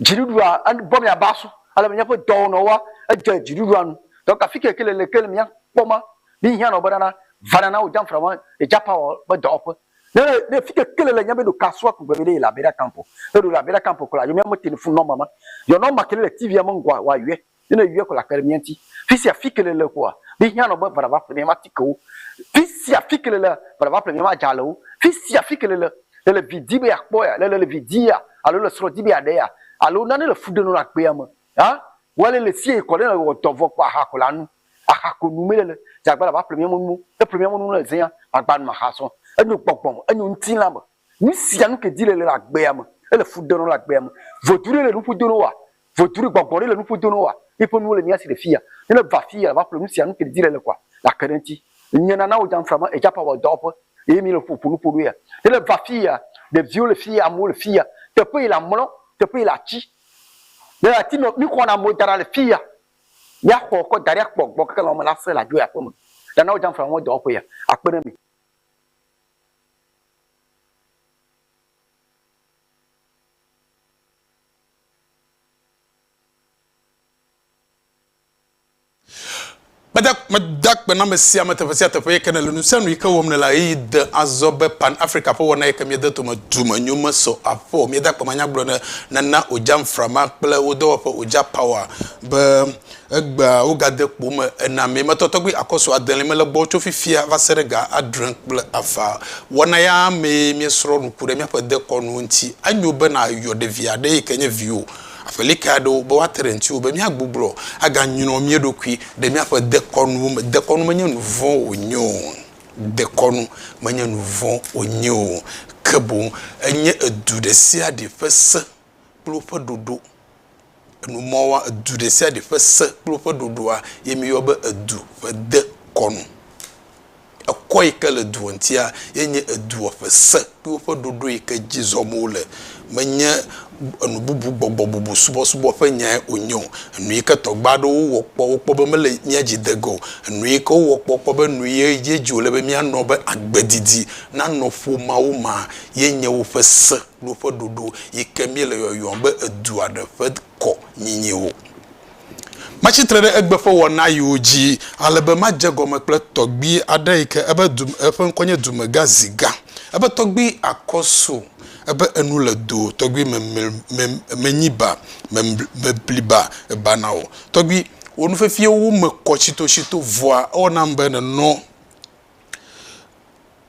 Dziɖuɖua bɔ mia ba sɔ ale mia ƒe dɔwɔ nɔ wa edze dziɖuɖua nu. Dɔ ka fike kele le kele mia kpɔ ma mi hiã nɔ be nana vana na wo jam fra ma e ja pa wɔ be dɔwɔ ƒe. Ne ne fike kele le nya be ɖo ka sua ku gbe be de le abera kampo. Eɖo le abera kampo kula yo mia me tele fun nɔ mama. Yo nɔ ma kele le TV a me ngwa wa yɔe. Ne ne yɔe ko la kpe ɖe mía ŋuti. Fi sia fi ke nèle koa, míhiã nɔ be va ɖava ƒle míaƒe atikewo. Fi sia fi ke nèle va ɖava ƒle míaƒe adzalewo. Fi sia fi ke nèle, nèle vi dim be yeakpɔ ya, nèle le vi dim ya alo nèle srɔ̃ dim be yeaɖe ya alo nane le fu ɖem nɔ le agbea me hã, wɔ ale le sie kɔ ne nèwɔ dɔ vɔ kpɔ aha ko la nu. Aha ko nu mele le dze agbala va ƒle mía me nuwo. Ne eƒle mía me nuwo le zẽa, magba nu maxa srɔ̃. Enyo gbɔgbɔ me, enyo ŋutilã me. Nu sia nu ke di le le agbea me, ele fu ɖe nɔ le agbea me. Vodu ɖe le nuƒo do nɔ woa? Vodu ɖe gbɔgbɔ ɖe le nuƒo do nɔ woa? Míeƒe nuwo le mía si le fiya. Ne le va fiya va ƒle nu sia nu ke di le le kɔa, le ake ɖe eŋuti. Nye nana wò Dzamfra me Ejapa wɔ dɔwɔƒe eye míele ƒo ƒo nuƒo ɖo ya. Ne le va fiya, ɖeviwo le fiya, amewo le fiya. Teƒe yi le amlɔ, teƒe yi le atsi. Ne le ati me, míxɔna amewo da ɖa le fiya. Mía xɔ kɔ da ɖi akpɔ gbɔ keke lɔme la se le adzo yi aƒeme. Nana wò Dzamfra me dɔwɔƒe ya akpe ɖe mi. Meda, meda akpe na ame sia ame teƒe sia teƒe yi ke nele nu sia nu yi ke wɔm nele eye de azɔ be Pan Africa ƒe wɔna yi ke miede tome dume nyo mesɔ afɔ. Mieda akpe manyagblɔ ne nana Oja Nframa kple wo dɔwɔƒe Oja Power be Egbea wogade kpo me enamee metɔ tɔgbi akɔsu adelie mele gbɔ tso fifia va se ɖe ga adre kple ava. Wɔna ya mee míesrɔ̃ nuku ɖe míaƒe dekɔnu ŋuti. Enyo be nàyɔ ɖevi aɖe yi ke nye viwò, aƒelika aɖewo, be woate ɖe ŋutiwò be míagbuglɔ aganyrɔ mía ɖokui ɖe míaƒe dekɔnuwo me. Dekɔnu menye nu vɔ̃ wònye o. Dekɔnu menye nu vɔ̃ wònye o. Ke boŋ enye edu ɖe sia ɖe ƒe se. kple woƒe ɖoɖo. Enu ma woa, edu ɖe sia ɖe ƒe se kple woƒe ɖoɖoa ye mi yɔ be edu ƒe dekɔnu. Ekɔ yi ke le dua ŋutia ye nye edua ƒe se kple woƒe ɖoɖo yi ke dzi zɔm wole. Menye enu bubu gbɔgbɔ bubu subɔsubɔ ƒe nyae wonye o. Enu yi ke tɔgbe aɖewo wɔ kpɔ wokpɔ be mele mía dzi de ge o. Enu yi ke wowɔ kpɔ wokpɔ be nu ye dzi wòle be mía nɔ be agbe didi nanɔ ƒomeawo me ye nye woƒe se. ɖo ƒe ɖoɖo yi ke míele yɔyɔm be edua ɖe ƒe kɔ nyinyi o. Matsi tre ɖe egbe ƒe wɔnayiwo dzi ale be madze egɔme kple tɔgbi aɖe yi ke ebe du, eƒe ŋkɔ nye Dumegã Ziga. Ebe tɔgbi Akɔso, ebe enu le do tɔgbi me, me, me, menyi ba, me, mebli ba, eba na wò. Tɔgbi, wò nufiafiawo me kɔ tsitotsito, vɔa ewɔ nam be nenɔ.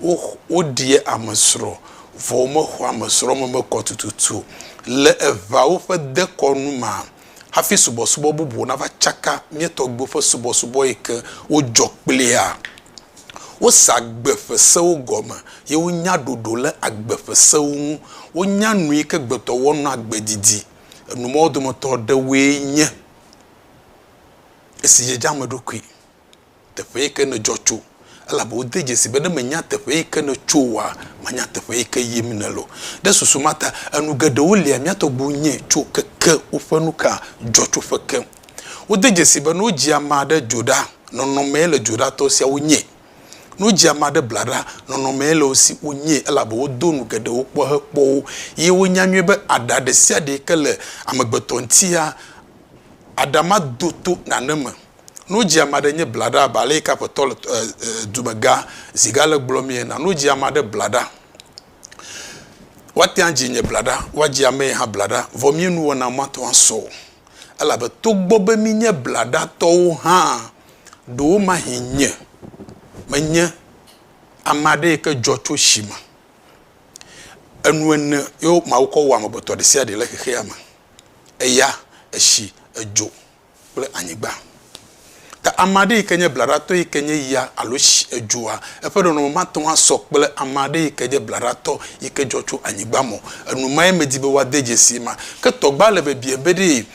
wo, woɖia amesrɔ̃, vɔ womexɔa amesrɔ̃meme kɔ tututu o. Le eʋea woƒe dekɔnu mea, hafi subɔsubɔ bubuwo nava tsaka mía tɔgbuiwo ƒe subɔsubɔ yi ke wodzɔ kplea, wosea agbe ƒe sewo gɔme ye wonya ɖoɖo le agbe ƒe sewo ŋu. Wonya nu yi ke gbetɔ wɔm nɔ agbe didi. Enu mawo dometɔ ɖewoe nye esi dzedze ame ɖokui. teƒe yi ke nèdzɔ tso, elabe wode dzesii be ne mènya teƒe yi ke nètso oa, mànya teƒe yi ke yim nèle o. Ɖe susu ma ta, enu geɖewo lia mía tɔgbuiwo nyɛ tso keke woƒe nukadzɔtsoƒe ke. Wode dzesii be ne wodzi ame aɖe dzo ɖa, nɔnɔmee le dzoɖatɔ siawo nyɛ. Ne wodzi ame aɖe bla ɖa, nɔnɔmee le wo si wonyɛ, elabe wodo nu geɖewo kpɔ hekpɔ wo, eye wonya nyuie be aɖa ɖesiaɖe yi ke le amegbetɔ ŋutia, aɖa madoto nane me Nu dzi ame aɖe nye blaɖa abe ale yi ke aƒetɔ le dumegã zi gã le gblɔ mee na nu dzi ame aɖe blaɖa. Woate ŋu adzi nye blaɖa, woadzi ame hã blaɖa vɔ mía nuwɔna mate ŋu asɔ o elabe togbɔ be míenye blaɖatɔwo hã ɖewomahĩ nye menye ame aɖe yi ke dzɔ tso si me. Enu ene ye Mawu kɔ wɔ amegbetɔ ɖe sia ɖe le xexeame, eya, etsi, edzo. kple anyigba. Ke ame aɖe yi ke nye blaɖatɔ yi ke nye ya alo tsi, edzoa, eƒe nɔnɔme mate ŋu asɔ kple ame aɖe yi ke nye blaɖatɔ yi ke dzɔ tso anyigba me o. Enumee medi be woade dzesi ema. Ke tɔgbea le biabiam be ɖee,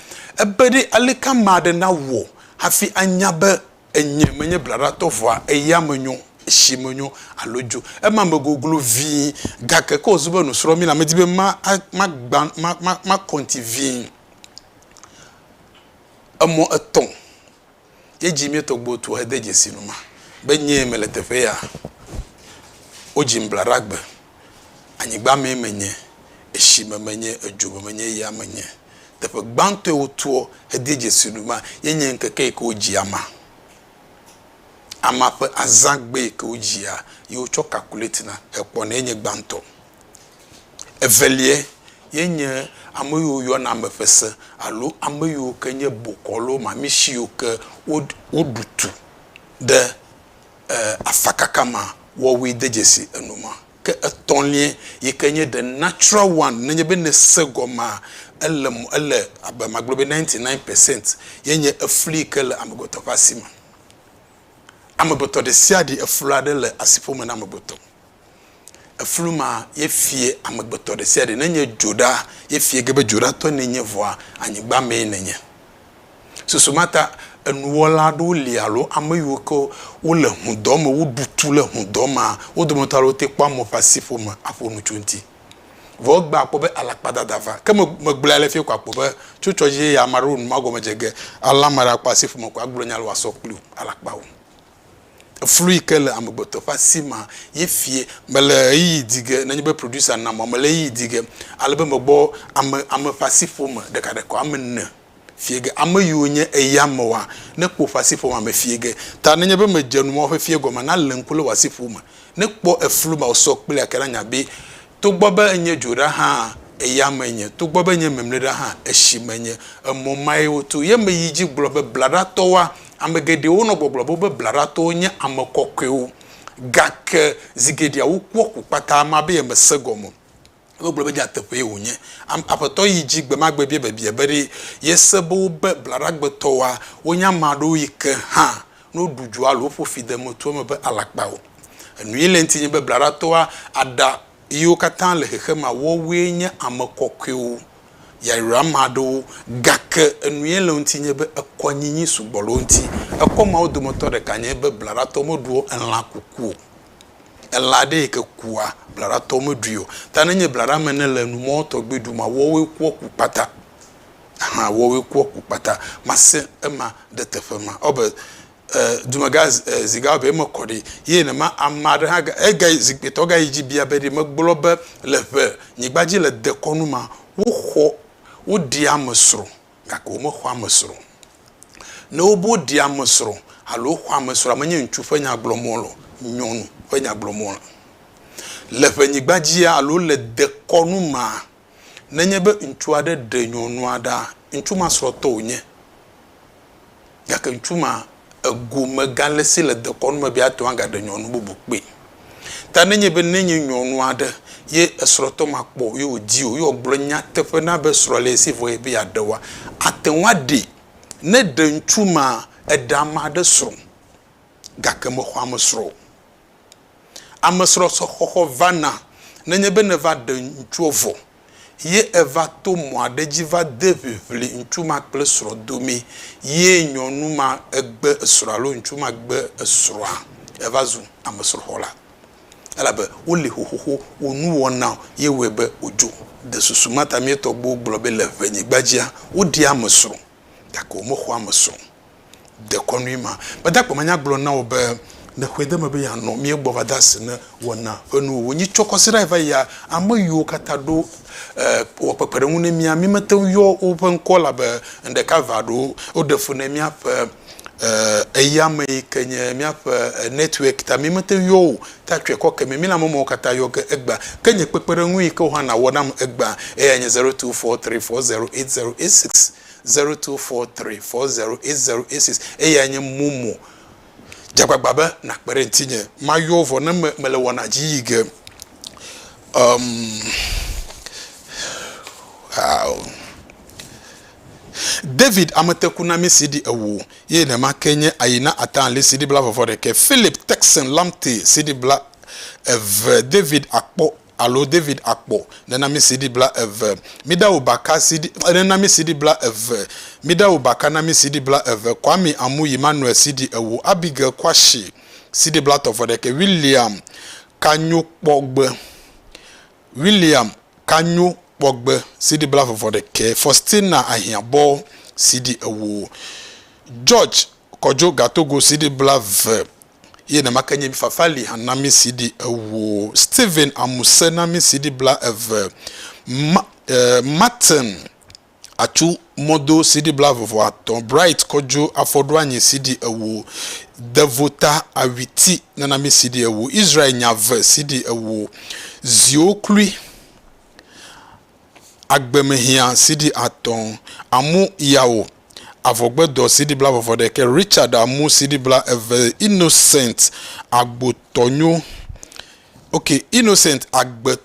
ebe ɖe aleke ame aɖe nawɔ hafi anya be enye menye blaɖatɔ vɔa eya menyo, etsi menyo alo dzo. Ema me goglo vĩi. Gake ke wòzu be nusrɔ̃mila, medi be ma, ma, ma, ma, ma, makɔ ŋuti vĩi. Emɔ etɔ̃ ye dzi míetɔ gbɔ tu hede dzesi nu ma be nyee mele teƒe ya. Wodzim Blaɖagbe, anyigba mee menye, etsi me menye, edzo me menye, eya me menye. Teƒe gbãtɔ yi wotuɔ hede dzesi nu ma ye nye ŋkeke yi ke wodzi ama. Ama ƒe azãgbe yi ke wodzia ye wotsɔ kakuletina hekpɔnɛ ye nye gbãtɔ. Eveliae ye nye ame yiwo yɔna ame ƒe se alo ame yiwo ke nye bokɔ alo mamisi yiwo ke woɖu tu ɖe afakaka ma wɔwɔe de dzesi enu ma. Ke etɔ̃lia yi ke nye the natural one ne nye be ne se gɔmea ele mɔ ele abe magblɔ be ninety nine percent ye nye efli yi ke le amegbetɔ ƒe asi me. Amegbetɔ ɖesiaɖe efli aɖe le asiƒome na amegbetɔ. Eflu ma ye fie amegbetɔ ɖe sia ɖe. Ne nye dzo ɖa ye fie ge be dzo ɖa tɔ ne nye vɔa anyigba mee ne nye. Susu ma ta enuwɔla aɖewo li alo ame yiwo ke wole ŋudɔ me woɖu tu le ŋudɔ ma wo dometɔ aɖewo te kpɔa mɔ ƒe asi ƒo me aƒo nu tso eŋuti. Vɔ egbe akpɔ be alakpadada va. Ke me megblɔe ale fie ko akpɔ be tso tsɔ dzi ye ya ame aɖewo nu magɔme dze ge ale ame aɖe akpɔ asi ƒo me ko agblɔ nya ale woasɔ kpli alakpawo. Eflu yi ke le amegbetɔ ƒe asi ma ye fie. Mele ɣeyiɣi di ge nenye be producer nam o. Mele ɣeyiɣi di ge ale be megbɔ ame, ame ƒe asiƒome ɖekaɖeka woame ene fie ge. Ame yiwo nye eyamewoa, nekpɔ woƒe asiƒomea me fie ge. Ta nenye be medze nu ma woƒe fie gɔmea, nalé ŋku le wò asiƒome. Nekpɔ eflu ma wòsɔ kplea ke nanya be. Togbɔ be enye dzo ɖa hã, eya me nye, togbɔ be enye memle ɖa hã, etsi me nye. Emɔ mae woto. Ye meyi dzi gblɔ be, Blaɖatɔwoa, ame geɖewo nɔ gbɔgblɔ be woƒe blaɖatɔwo nye ame kɔkɔewo, gake zi geɖea wokpɔ ku kpata ma be yemese gɔme o. Wogblɔ be nyateƒee wònye. Am, Aƒetɔ yi dzi gbe ma gbe bia biabia be, Ɖe yese be wobe blaɖagbetɔwoa wonye ame aɖewo yi ke hã No ɖu dzo alo ƒo fi de emetu eme be alakpa o. Enu yi le eŋti nye be blaɖatɔa aɖa yiwo katã le xexemea woawoe nye ame kɔkɔewo, yayra ame aɖewo, gake enu yi le eŋti nye be ekɔ nyinyi sugbɔ le wo ŋti. Ekɔ mawo dometɔ ɖeka nye be blaɖatɔ meɖuɔ elã kuku o. Elã aɖe yi ke kua blaɖatɔ meɖui o. Ta nenye blaɖa ame ene le nu mɔ tɔgbi ɖu ma woawoe kua ku kpata. Hã wɔ ɣe kua ku kpata mase ema ɖe teƒe ma ɔ be e dumega e ziga ɔ be eme kɔ ɖi ye ne ma ama ɖe hã ga e ga yi zikpui tɔ ga yi dzi bia be ɖi me gblɔ be le ƒe nyigba dzi le dekɔnu ma wo xɔ wo ɖi ame srɔ gake wo me xɔ ame srɔ ne wo be wo ɖi ame srɔ alo wo xɔ ame srɔ me nye ŋutsu ƒe nya gblɔ mɔ lɔ nyɔnu ƒe nya gblɔ mɔ le ƒe nyigba dzi alo le dekɔnu ma Nenye be ŋutsu aɖe ɖe nyɔnua ɖa, ŋutsu ma srɔ̃tɔ wònye, gake ŋutsu ma, egome gale si le dekɔnu me be ate ŋu agaɖe nyɔnu bubu kpee. Ta nenye be nenye nyɔnu aɖe ye esrɔ̃tɔ ma kpɔ ye wòdi o, ye wògblɔ nyateƒe na be srɔ̃ le ye si vɔ ye be yeaɖe oa, ate ŋu aɖee. Ne ɖe ŋutsu ma, eɖe ame aɖe srɔ̃, gake mexɔ ame srɔ̃ o. Amesrɔ̃sɔxɔxɔ vana nenye be nèva ɖe ŋutsua vɔ ye èva to mɔ aɖe dzi va de ʋiʋli ŋutsu ma kple srɔ̃ domee ye nyɔnu ma gbe esrɔ̃ alo ŋutsu ma gbe esrɔ̃a, èva zu amesrɔ̃xɔla. Elabe woli xoxoxo, wò nuwɔna ye wɔe be wòdzo. De susu ma ta mía tɔgbuiwo gblɔ be le ʋenyigba dzia, woɖia amesrɔ̃. gake womexɔ eme se o. Dekɔnue ma, gbadagbe ma nya gblɔ na wò be, Le kpɔɖeŋu be yeanɔ mía gbɔ va de asi ne wɔna ƒe nuwo ŋu. Nyi tsɔ kɔsiɖae va yia? Ame yiwo katã ɖo wɔ kpekpeɖeŋu ne mía, mímete ŋu yɔ woƒe ŋkɔ elabe ŋɖeka eve aɖewo ɖe fu ne míaƒe eyamee ke nye míaƒe network ta mímete ŋu yɔ wo o. Ta tsɔe kɔ ke me, mina mɔ mawo katã yɔ ge egbea. Ke nye kpekpeɖeŋui ke wò hã nàwɔ nam egbea. Eyae nye zero two four three four zero eight zero eight six, zero two four three four zero eight zero eight six. Eyae nye momo. Dze agbagba be nàkpe ɖe ŋutinye. Mayɔ wò vɔ ne me, mele wɔna dzi yi ge. Ɔm. Aa o. David ametekunami si ɖi ewo ye nema ke nye Ayina Atanli si ɖi bla vɔvɔ ɖekɛ, Philip Texan Lamte si ɖi bla eve, David Akpɔ alo David Akpɔ nenami si ɖi bla eve, Midawu Baka si ɖi nenami si ɖi bla eve, Midawu Baka nami si ɖi bla eve, Kwame Amuyi Manuel si ɖi ewo, Abigail Kwashi si ɖi bla tɔvɔ ɖekɛ, William Kanyokpɔgbe William kanyo kpɔgbe CD bla vɔvɔ ɖekɛ Faustina ahiã bɔ CD ewo George kɔdzo gatogo CD bla ve ye ne make nye mi Fafali han na mi CD ewo Steven amuse na mi CD bla eve Ma, eh, Martin Atu mɔ do CD blaeve-vɔ atɔ̃, Bright kɔ djo afɔ ɖo anyi CD ewo, Devo ta awi ti nana mi CD ewo, Israel nya ve CD ewo, Ziwo klui agbe me hiã CD atɔ̃, Amu yawo avɔgbe dɔ CD blaeve-vɔ ɖekɛ, Richard amu CD bla eve, Innocent agbo tɔ nyo ok, Innocent agbe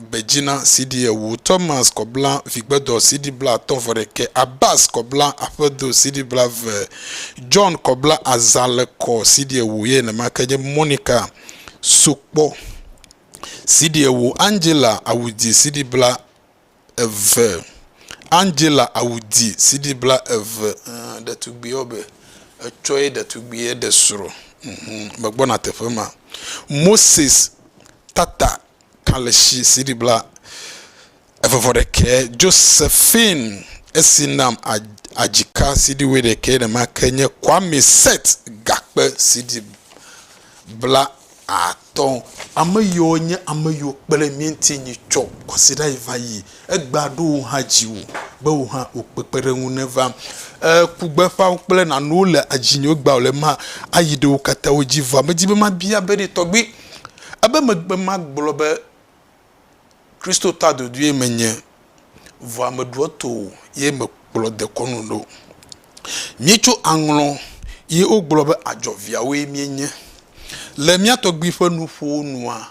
Gbedzina CD ewo, Thomas Kɔbla Vigbedɔ CD blaatɔ̃ vɔ ɖekɛ, Abbas Kɔbla Aƒedo CD blaeve, John Kɔbla Azãlekɔ CD ewo ye nenema ke nye Monica Sokpɔ CD ewo, Angela Awudi CD blaatɔ̃, eve. Angela awu di CD bla eve eer ɖetugbui wɔbɛ etsɔe ɖetugbui ɖe srɔ̃ ehe megbɔna teƒe ma. Moses tata kalẽsi CD bla eve vɔ ɖekɛ. Josephine esi nam adzika CD wɔ ɖekɛ nemake nye Kwame set gakpe CD bla at. Tɔ ame yiwo nye ame yiwo kpe ɖe mía ŋuti nyi tsɔ kwasiɖa yi va yi. Egbea ɖo wò hã dziwò be wò hã wò kpekpeɖeŋu neva. E ku gbeƒãwo kple nanuwo le adzinye wo gbea wòle ma ayi ɖe wo katã wo dzi. Vɔa medi be mabia be ɖe tɔgbui ebe megbe magblɔ be Kristo ta dodoe menye, vɔa meɖoa to o ye mekplɔ dekɔnu ɖo. Míetso aŋlɔ ye wogblɔ be adzɔviawoe míenye. Le mía tɔgbui ƒe nuƒowo nua,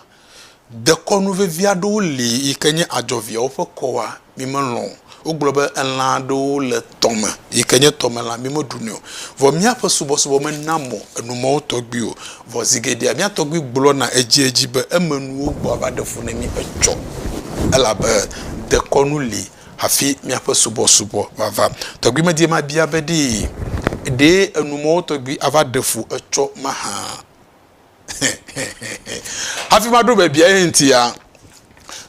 dekɔnu vevi aɖewo li yi ke nye adzɔviawo ƒe kɔa mi melɔ̃ o. Wogblɔ be elã aɖewo le tɔ me yi ke nye tɔmelã, mi meɖunɛ o. Vɔ míaƒe subɔsubɔ mena mɔ enumɔwo tɔgbi o. Vɔ zi geɖea mía tɔgbui gblɔna edziedzi be emenuwo gbɔ ava ɖe fu ne mí etsɔ, elabe dekɔnu li hafi míaƒe subɔsubɔ vava. Tɔgbui medie mabia be ɖee ɖe enumɔwo tɔgbi ava ɖe fu etsɔ mahã? Hafi maɖo biabia ye ŋutia,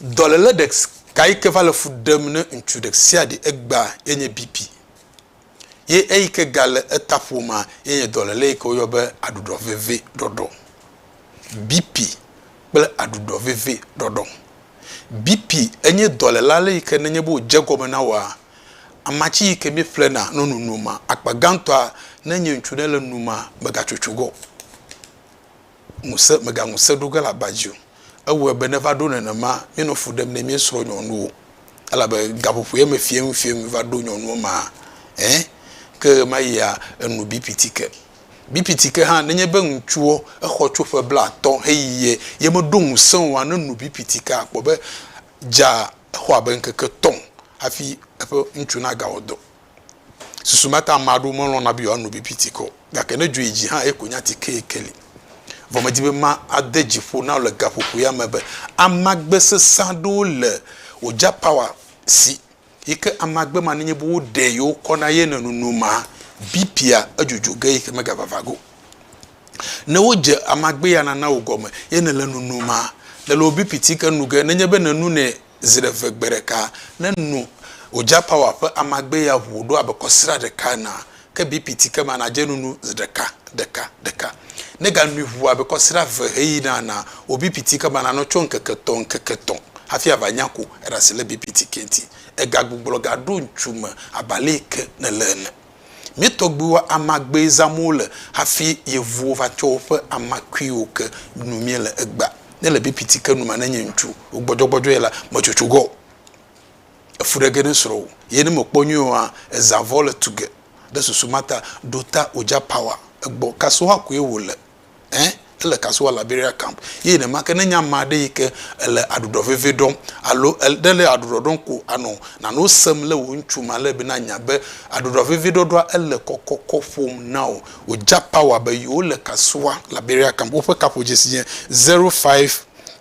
dɔléle ɖeka yi ke va le fu ɖem ne ŋutsu ɖe sia ɖe egbea ye nye BP. Ye eyi ke gale eta ƒomea ye nye dɔléle yi ke woyɔ be aɖuɖɔ veve ɖɔɖɔ. BP kple aɖuɖɔ veve ɖɔɖɔ. BP enye dɔléle ale yi ke nenye be wòdze egɔme na wòa, Amatsi yi ke mí ƒlena no nunu ma, akpa gãtɔa ne nye ŋutsu ɖe le nu ma, me ga tsotso ge o. Ŋuse, me ga ŋuse ɖo ge le aba dzi o. Ewɔe be ne va ɖo nenema, mí nɔ fu ɖem ne mía srɔ̃ nyɔnuwo. Elabe gaƒoƒo ye me fiẽnu fiẽnu va ɖo nyɔnuwo ma, ɛ, ke ɣemayia, enu bi piti ke. Bi piti ke hã, ne nye be ŋutsuɔ, exɔ tso ƒe blatɔ heyi ye, ye me ɖo ŋuse oa, ne nu bi piti ke, akpɔ be dza exɔ abe ŋkeke etɔ̃ hafi eƒe ŋutsu nagawɔ dɔ. Susu ma ta ame aɖewo melɔ̃na be yewoano bibi tikɔ o. Gake ne dzo yi dzi hã, eye ko nya tike ye ke li. Vɔ medi be made dzi ƒo na wò le gaƒoƒo ya me be amagbe sesẽ aɖewo le wò dzapawa si Yi ke amagbe ma nenye be woɖe yewo kɔ na ye nɔnunu ma, BP-a edzodzoa ge yi ke megavava ge o. Ne wodze amagbe ya nana o gɔme ye nèle nunum ma, le le wò BP ti ke nu ge. Nenye be nènunɛ zi ɖe ve gbe ɖeka, ne nu Ojapower ƒe amagbe ya ŋu wòɖo abe kɔsiɖa ɖeka enea, ke bipiti ke ma nadze nunu zi ɖeka, ɖeka, ɖeka. Ne ganui ʋu abe kɔsiɖa eve heyina enea, wò bipiti ke ma nanɔ tso ŋkeke etɔ̃, ŋkeke etɔ̃ hafi ava nya ko eɖe asi le bipiti ke ŋuti. Egagbugbɔ gaɖo ŋutsu me abe alee ke nèle ene. Mía tɔgbuiwo amagbee zãm wole hafi yevuwo va tsɔ woƒe amakuiwo ke nu míele egbea. Ne le bipiti ke nu ma nenye ŋutsu wògbɔdzɔgbɔdzɔe la, metsotso ge o. efu ɖe ge ne srɔ̃wò ye ne mèkpɔ nyuie oa, ezã vɔ le tu ge. Ɖe susu ma ta ɖo ta wòdza pawa egbɔ. Kasoha koe wòle. Ẽ, ele kasoha le Liberia Camp. Ye nenemake ne enye ame aɖe yi ke ele aɖuɖɔ veve ɖɔm alo ele le aɖuɖɔ ɖɔm ko anɔ nanewo sem le wò ŋutsu ma le be nanya be aɖuɖɔ veve ɖɔɖɔa ele kɔkɔkɔ ƒom na wò. Wòdza pawa be yewole kasoha Liberia Camp. Woƒe kaƒodzesi nye zero five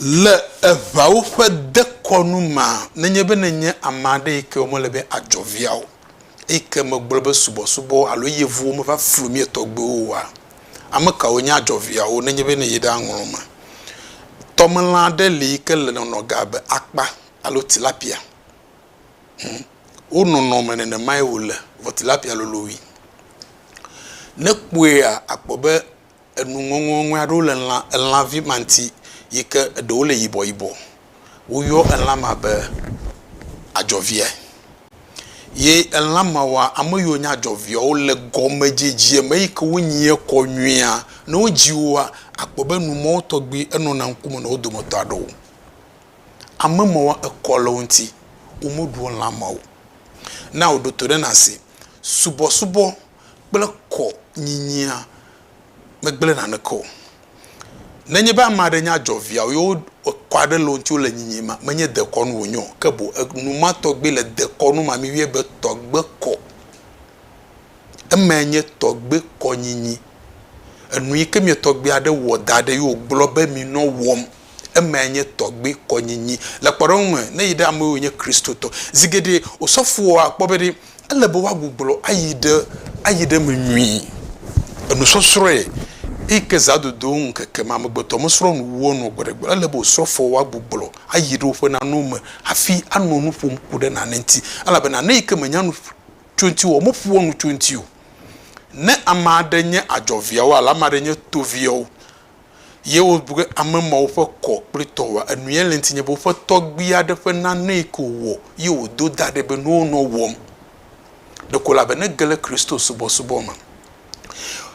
Le eŋawo ƒe dekɔnu mea, nenye be nènye ame aɖe yi ke womele be adzɔ via o, eyi ke megblɔ be subɔsubɔ alo yevuwo meva flu mía tɔgbuiwo oa, ame kawo nye adzɔviawo nenye be nèyi ɖe aŋlɔ eme? Tɔmelã aɖe li yi ke le nɔnɔ ge abe akpa alo tilapia. Hum, wo nɔnɔme nenemae wòle, vɔ tilapia lolo wui. Ne èkpɔea, àkpɔ be enu ŋɔŋɔŋɔe aɖewo le lã elãvi ma ŋuti yi ke eɖewo le yibɔyibɔ. Woyɔ elã ma be adzɔvia ye elã mawoa ame yiwo nye adzɔvia wo le gɔmedzedzea me eyi ke wonyia kɔ nyuie. Ne wodzi woa akpɔ be enu ma wo tɔgbi enɔna ŋkume na wo dometɔ aɖewo. Ame mawoa ekɔ le wo ŋuti womeɖua lã ma o. Na wò ɖo to ɖe nase subɔsubɔ kple kɔ nyinyia megblẽ naneke o. Nenye be ame aɖe nya dzɔ viawo ye wokɔ aɖe le wo ŋuti wole nyinyim ma, menye dekɔnu wònye o, ke boŋ enumatɔgbee le dekɔnu ma mi vie be tɔgbe kɔ. Emae nye tɔgbe kɔ nyinyi. Enu yi ke mia tɔgbia ɖe wɔ da ɖe ye wògblɔ be mi nɔ wɔm. Eme nye tɔgbi kɔnyinyi. Le kpɔɖeŋu me, ne yi ɖe ame yiwo nye Kristotɔ, zi geɖe osɔfoa akpɔ be ɖe ele be woagbugbɔ ayi ɖe ayi ɖe eme nyuie. Enusɔsrɔ̃e eyi ke zã dodo ŋkeke ma amegbetɔ mesrɔ̃ nu wua nua gbe ɖe gbe o. Ele be osɔfoa woagbugbɔ ayi ɖe woƒe nanewo me hafi anɔ nu ƒom ku ɖe nane ŋuti. Elabe nane yi ke menya nu tso eŋuti o, meƒoa nu tso eŋuti o. Ne ame aɖe nye adzɔviawo alo ame aɖe nye toviawo Ye wobu be ame mawo ƒe kɔ kple tɔ wɔ enuya le ŋutinye be woƒe tɔgbui aɖe ƒe nanee ko wòwɔ ye wòdo da ɖɛ be nuwo nɔ wɔm. Ɖeko la be nege ɖe Kristo subɔsubɔ me.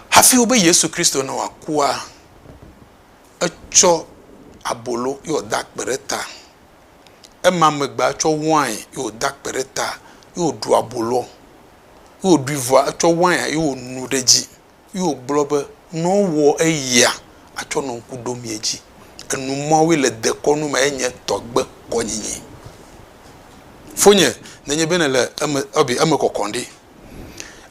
Hafi wobe Yesu Kristo ne wòakua, etsɔ abolo ye wòda akpe ɖe ta. Ema megbea etsɔ wain ye wòda akpe ɖe ta ye wòɖu aboloa ye wòɖui vɔa etsɔ wain ye wònu ɖe edzi. Ye wògblɔ be, Ne wowɔ eyia, atsɔ nɔ ŋku ɖom ye dzi. Enu mawoe le dekɔnu me enye tɔgbe kɔnyinyi. Fonye, nenye be nèle eme, ebe eme kɔkɔm ɖi.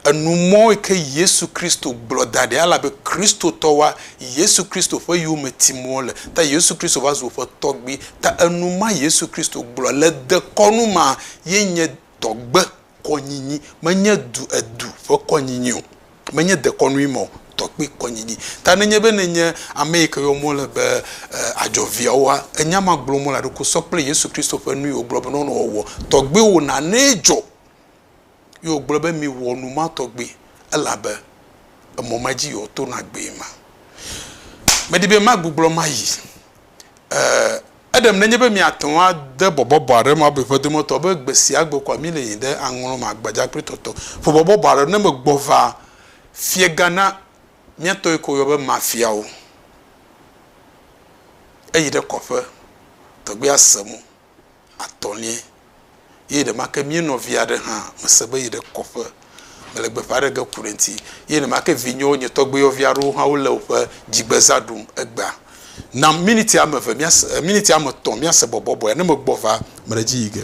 Enu mɔ yi ke Yesu Kristo gblɔ da ɖi elabe Kristotɔwoa, Yesu Kristo ƒe yome tim wole. Ta Yesu Kristo va zu woƒe tɔgbui. Ta enu ma Yesu Kristo gblɔ le dekɔnu mea ye nye tɔgbe Kɔnyinyi menye du edu ƒe kɔnyinyi o, menye dekɔnui me o, tɔkpui kɔnyinyi. Ta nenye be nènye ame yi ke yɔm wole be adzɔ viawoa, enya ma gblɔm wole aɖo ko sɔ kple Yesu Kristo ƒe nu yi wògblɔ be nɔnɔ wɔwɔ tɔgbiwo nanee dzɔ. Ye wògblɔ be miwɔ nu ma tɔgbi elabe emɔ ma dzi yi woato nagbee ma. Medi be magbugbblɔ mayi. E. Eɖem nenye be miate ŋu ade bɔbɔ bɔ aɖem abe ƒe dometɔ be gbe sia gbe koa mile yiyim ɖe aŋlɔ me agbadza kple tɔtɔ ƒe bɔbɔ bɔ aɖe ne megbɔ va fiega na miatɔ yi ke woyɔ be mafiawo. Eyi ɖe kɔƒe tɔgbi ase mo atɔ̃liɛ. eye ɖemake mía nɔvi aɖe hã mese be yeɖe kɔƒe mele gbeƒã ɖe ge ku ɖe eŋuti eye nemake vinyewo nye tɔgbuiyɔvi aɖewo hã wole woƒe dzigbezã ɖum egbea. Na miniti ame eve míase, miniti ame etɔ̃ míase bɔbɔbɔea, ne megbɔ va, mele edzi yi ge.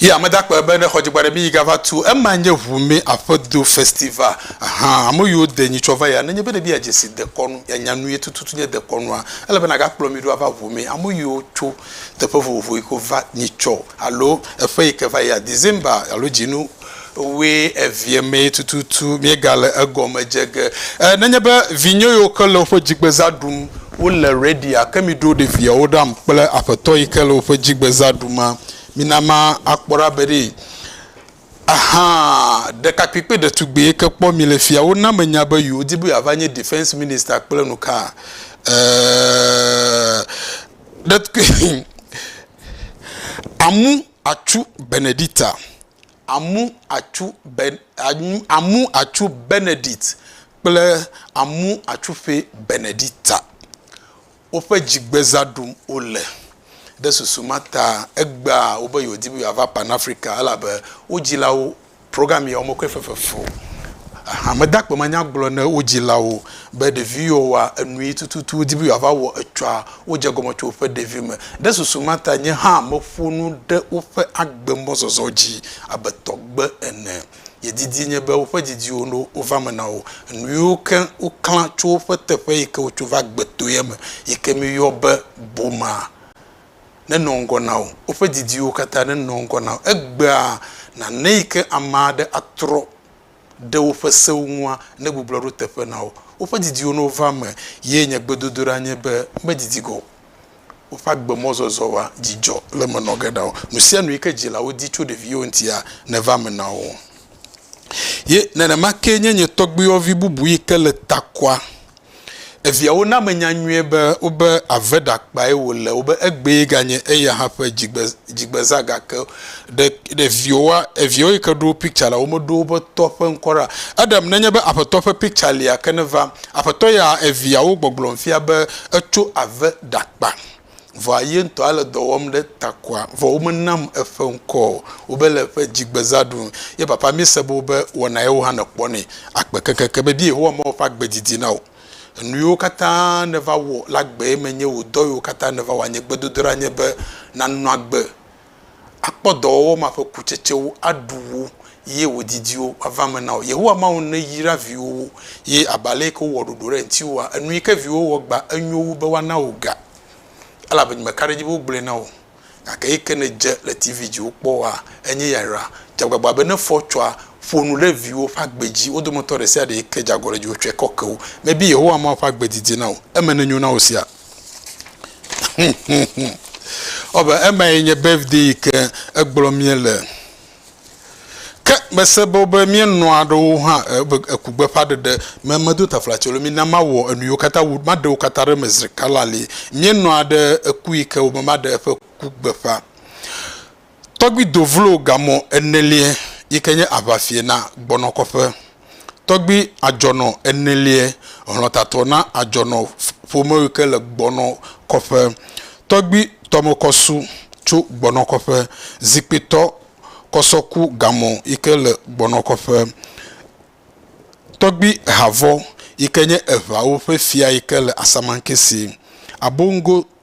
Yi ame dakpe be ne xɔ dzigba ɖe mi yi gava tu ema nye ʋu mi aƒe do festival aha ame yiwo de nyi tsɔ va ya nenye be ne bia dzesi dekɔnu ya nya nu ye tututu nye dekɔnua ele be na ga kplɔ mi ɖo ava ʋu mi ame yiwo tso teƒe vovovo yi ko va nyi tsɔ alo eƒe yi ke va ya December alo dzinu Wue evie mee tututu míegale egɔme dze ge. E, nenye be vinye yiwo ke le woƒe dzigbezã ɖum wole ready'a, ke miɖo ɖeviawo ɖam kple Aƒetɔ yi ke le woƒe dzigbezã ɖuma. Mina ma akpɔ ɖa be ɖee. Aha, ɖekakpui kple ɖetugbui yi ke kpɔ mi le fia, wona menya be yewodi be yeava nye Defense Minister kple nuka. E, ɖetkpui, amu atsu Benedicta, amu atsu be, amu atsu Benedict kple amu atsuƒɛ Benedicta. Woƒe dzigbeza ɖum wole. Ɖe susu ma ta, egbea wo be yewo di be yewoava Pan Afrika elabe wo dzilawo Program yawo me koe fefefo hamedakpe ma nya gblɔ ne wo dzilawo be ɖevi yiwo wa enui tututu wodi be yewoava wɔ etsɔa, wodze egɔme tso woƒe ɖevime. Ɖe susu ma ta nye hã meƒo nu ɖe woƒe agbe mɔzɔzɔ dzi abe tɔgbe ene. Nye didi nye be woƒe didiwo no wova eme na wo. Enuyiwo ke woklã tso woƒe teƒe yike wotso va gbetoea me yike miyɔ be boma. nenɔ ŋgɔ na wò, woƒe didiwo katã nenɔ ŋgɔ na wò. Egbea nànɛ yi ke ame aɖe atrɔ ɖe woƒe sewo ŋua, negbublɔ ɖo teƒe na wo. Woƒe didiwo ne wova eme ye nye gbedodoɖa nye be medidi ge o. Woƒe agbemɔzɔzɔ wa dzidzɔ le eme nɔ ge na wo. Nu sia nu yi ke dzilawo di tso ɖeviwo ŋutia, neva eme na wo. Ye nenema kee nye nye tɔgbuiyɔvi bubu yi ke le Takwa Eviawo na menya nyuie be wobe ave ɖakpae wòle, wobe egbee ganye eya hã ƒe dzigbe, dzigbezã gake ɖe, ɖe viwoa, eviawo yi ke ɖo picture la, womeɖo woƒe tɔ ƒe ŋkɔ ɖa. Eɖem nenye be Aƒetɔ ƒe picture lia ke neva. Aƒetɔ ya eviawo gbɔgblɔm fia be etso ave ɖakpa. Vɔa ye ŋutɔ ale dɔ wɔm ɖe takɔa, vɔ womenam eƒe ŋkɔ o, wobe le eƒe dzigbeza ɖum. Ye papa, míese be wobe wɔna yewo hã nèkpɔ nɛ agbe keŋkeŋkeŋ be vie Yehowa mawu ƒe agbe didi na wò. Enuyiwo katã nèva wɔ le agbee me nye wò dɔ yiwo katã nèva wɔ anye gbedodoɖa nye be nànɔ agbe akpɔ dɔwɔwɔ ma ƒe kutsetsewo, aɖu wo, ye wò didiwo ava eme na wò. Yehowa Mawu neyra viwòwo, ye abe aleyike wowɔ ɖoɖo ɖe ŋutiwòa, enuyike viwòwo wɔ gbã enyo wu be woana wò ga, elabe nyemeka ɖe edzi be wogblɔe na wò, gake eyike nèdze le TV dzi wokpɔa, enye ya yra. Dze agbagba be ne fɔ tsɔa, ƒo nu ɖe viwòwo ƒe agbe dzi, wo dometɔ ɖesiaɖe yike dze agɔ ɖe dziwò tsɔe kɔkewo me be Yehowa Mawu ƒe agbe didi na wò, eme nenyo na wò sia. Ewɔ abe emae nye birthday yi ke egblɔ míele. Ke mese be wobe míenɔ aɖewo hã ebe ekugbeƒãɖeɖe me medo taflatse o. Mina mawɔ enu yiwo katã wu, maɖe wo katã ɖe eme zi ɖeka lalii. Míenɔa ɖe eku yi ke wobe maɖe eƒe ku gbeƒã. Tɔgbi do vlo gamɔ eneliɛ yike nye aʋafie na gbɔnɔ kɔƒe. Tɔgbi adzɔnɔ eneliɛ hlɔtatɔ na adzɔnɔ ƒome yike le gbɔnɔ kɔƒe. Tɔgbi tɔmekɔsu tso gbɔnɔ kɔƒe. Zikpitɔ kɔsɔku gamɔ yike le gbɔnɔ kɔƒe. Tɔgbi havɔ yike nye eʋawo ƒe fia yike le Asamankese. Abongo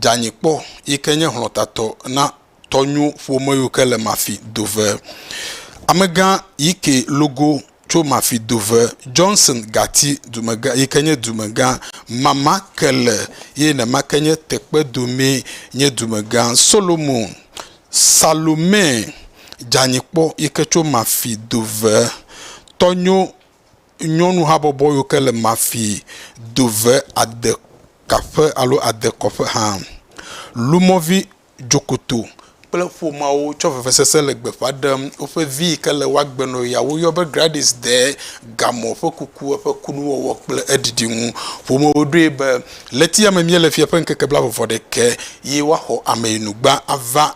dzeanyi kpɔ yi ke nye hlɔ̃tatɔ na tɔnyo ƒome yiwo ke le Mafi dove. Amegã Ykee logo tso Mafi dove. Johnson Gati dumegã yi ke nye dumegã. Mama Kele ye nema ke nye Tekpedomee nye dumegã. Solomon Salome dzeanyi kpɔ yi ke tso Mafi dove. Tɔnyo nyɔnu habɔbɔ yiwo ke le mafi do ve adekaƒe alo adekɔƒe hã. Lumɔ̃vi dzokoto kple ƒomeawo tsɔ vevesese le gbeƒã ɖem woƒe vi yi ke le wo agbe nɔ yia woyɔ be Gladys Dee gamɔ̃ ƒe kuku eƒe kunuwɔwɔ kple eɖiɖi ŋu. Ƒomewo ɖoe be le etiame míele fia ƒe ŋkeke blaeve vɔ ɖekɛ ye woaxɔ ameyinugba ava.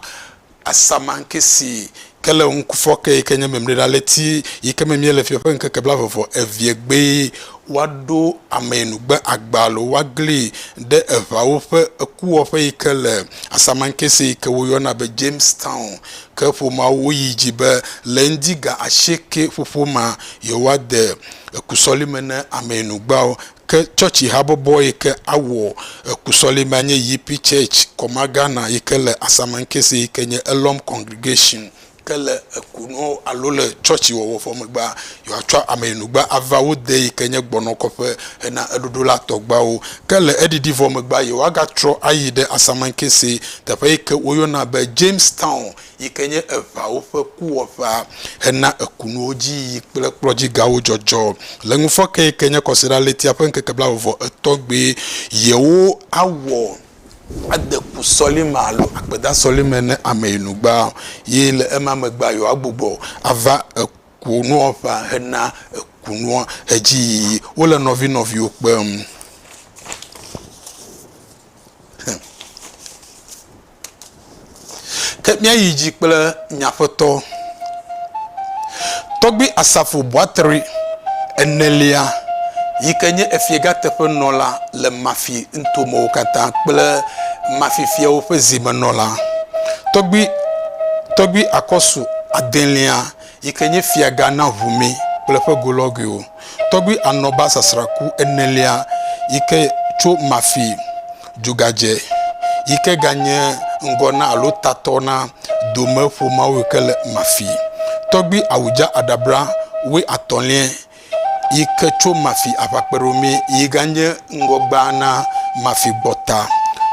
Asamaŋke si ke le ŋkufɔke yi ke nye Memleɖaleti yi ke me míele fiẽ ƒe ŋkeke blaeve-vɔ-eveɛ gbee woaɖo ameyinugbe agba alo woaglii ɖe eŋawo ƒe ekuwɔƒe yi ke le Asamaŋke si yi ke woyɔna be Jamestown ke ƒomea wo yi dzi be le ŋdi ga asieke ƒoƒo mea yewoade ekusɔlime na ameyinugbeawo. Ke tsɔtsi habɔbɔ yi ke awɔ eku sɔlimea nye Yippee Church, Koma Ghana, yi ke le Asamankese yi ke nye Elohim Congregation. Ke le ekunɔwo alo le tsɔtsi wɔwɔ vɔ megbea, yewoatsɔ ameyinugba ava wo de yi ke nye gbɔnɔkɔƒe hena eɖoɖo la tɔgbeawo. Ke le eɖiɖi vɔ megbea, yewoagatrɔ ayi ɖe Asamankese, teƒe yi ke woyɔna be Jamestown. yi ke nye eŋawo ƒe kuwɔƒea hena ekunuwo dzi yiyi kple kplɔdzigawo dzɔdzɔ. Le ŋufɔke yi ke nye Kɔsiɖaɣletia ƒe ŋkeke blaeve-vɔ-etɔ̃ gbee yewo awɔ ade ku sɔlime alo akpeda sɔlime ne ame yi nu gbaa, ye le ema megbea yewoagbugbɔ ava ekunuwɔƒea hena ekunua edziyiyi. Wole nɔvinɔviwo kpem. Ke míayi dzi kple nye aƒetɔ, Tɔgbui Asafo Boateri enelia yi ke nye efiega teƒenɔla le Mafi nuto mewo katã kple Mafi fiawo ƒe zimenɔla, Tɔgbui Akɔsu adelia, yi ke nye fiagã na ʋume kple eƒe golɔguiwo, tɔgbi Anɔba sasraku enelia yi ke tso Mafi dugadze yi ke ganye ŋgɔ na alo tatɔ na Dome ƒomeawo yi ke le Mafi, tɔgbi Awudza Adabra woe atɔ̃liɛ yi ke tso Mafi aʋakpeɖomee yi ganye ŋgɔgbea na Mafi gbɔta.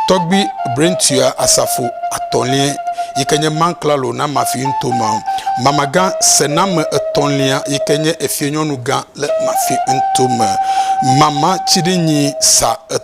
Tɔgbui Brentua asafo atɔ̃liae yi ke nye Man Klalo na Mafi ŋutoma. Mamagã sename etɔ̃lia yi ke nye efinyɔnugã le Mafi ŋutome. Mama Tsiɖinyi sa et.